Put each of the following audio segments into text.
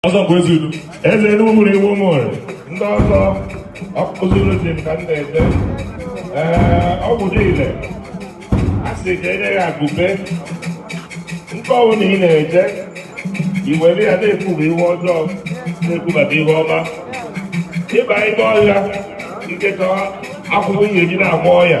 ọzọ bụ ezi udo eze enugu mụrụ iwu mụrụ ndị ọzọ ọkụzụrụ ji ka m na-ede ee ọgwụ dị ile a sị ka enye ya agụbe nke ọwụ na ị na-eje i were ya na-ekwuba ihe ọjọọ na-ekwubata ihe ọma ịba ime ọhịa nketa akwụkwọ ihe eji na-agwọ ọya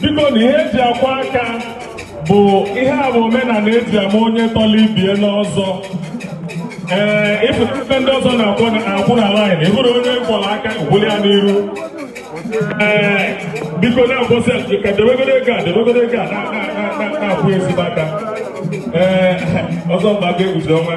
biko na ihe eji akwọ aka bụ ihe a bụ omenala eji ama onye tọla ibie n'ọzọ ee ịfụta ebe ndị ọzọ na-akwụ na laịn ịbụrụ onye kwọrọ aka wuli ya n'iru ee biko na-akwụsị ka debegoro ego a debegoro ego a na-akwụ ezigbo aka ee ọzọ mba ga-eguzo ọnwa